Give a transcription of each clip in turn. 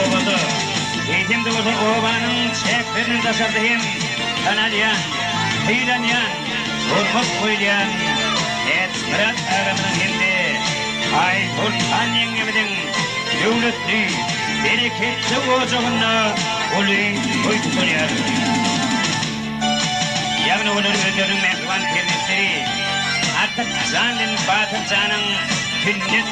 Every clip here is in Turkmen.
Obada, eýsem-de bolsa obanyň çäklerinden daşarda hem tanalýan, sylanýan, hormat goýulýan Ädismyrat agamyzyň hem-de Aýsoltan ýeňňemiziň döwletli, bereketli ojagynda uly toý tutulýar. Ýagny olar özleriniň mähriban perzentleriArtyk jan bilen Batyr janyň sünnet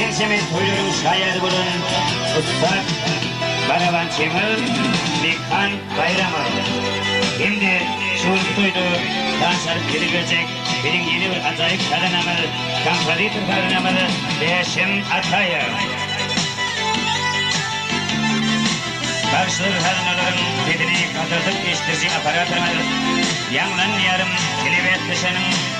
Ençeme toýlaryň şaýady bolan ussat baraban Çemel Mekhan Baýramow hem-de şu günki toýda tans alyp ýüze geljek biziň ýene bir ajaýyp sazandamyz, kompozitor sazandamyz Bäşim Ataýew. Bagşylar sazandalaryň sesini gataldyp eşitdiriji apparatymyz Ýaňlan ýarym telebäsleşeniň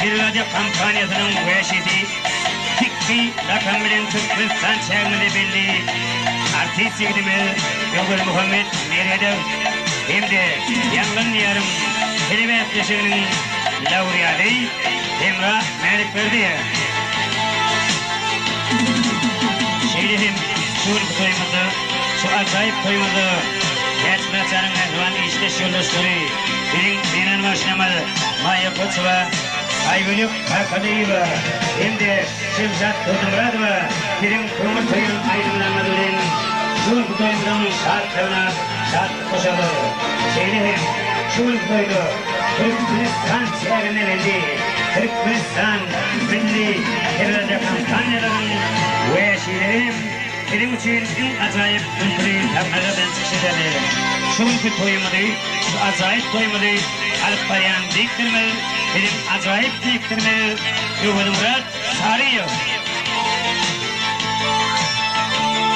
Pirrade kompaniýasynyň wäşisi Pikki lakamy bilen Türkmenistan çäginde belli artist ýigidimiz Öwezmuhammet Meredow hem-de Ýangyn diýarym telebäsleşiginiň lauready Hemra Mälikberdiýewa. Şeýle hem şu günki toýumyzda, şu ajaýyp toýumyzda Täçmyratjanyň mähriban işdeş ýoldaşlary, Biziň zenan bagşymyz Maýa Koçowa, Aýgülük Arkadyewa hem-de Şemşat Durdumyradowa siziň köňül söýen aýdymlaryňyz bilen şu günki toýumyzyň şatlygyna şatlyk goşarlar. Şeýle hem şu günki toýda Türkmenistan çäginde geldi Türkmenistan milli teleradiokompaniýalarynyň wäşileri hem Siziň üçin iň ajaýyp kültüri sahnada bilen çykyş edeli. Şu günki toýumyzy, şu ajaýyp toýumyzy alyp barýan diktorymyz, biziň ajaýyp diktorymyz Öwezmyrat Çaryýew.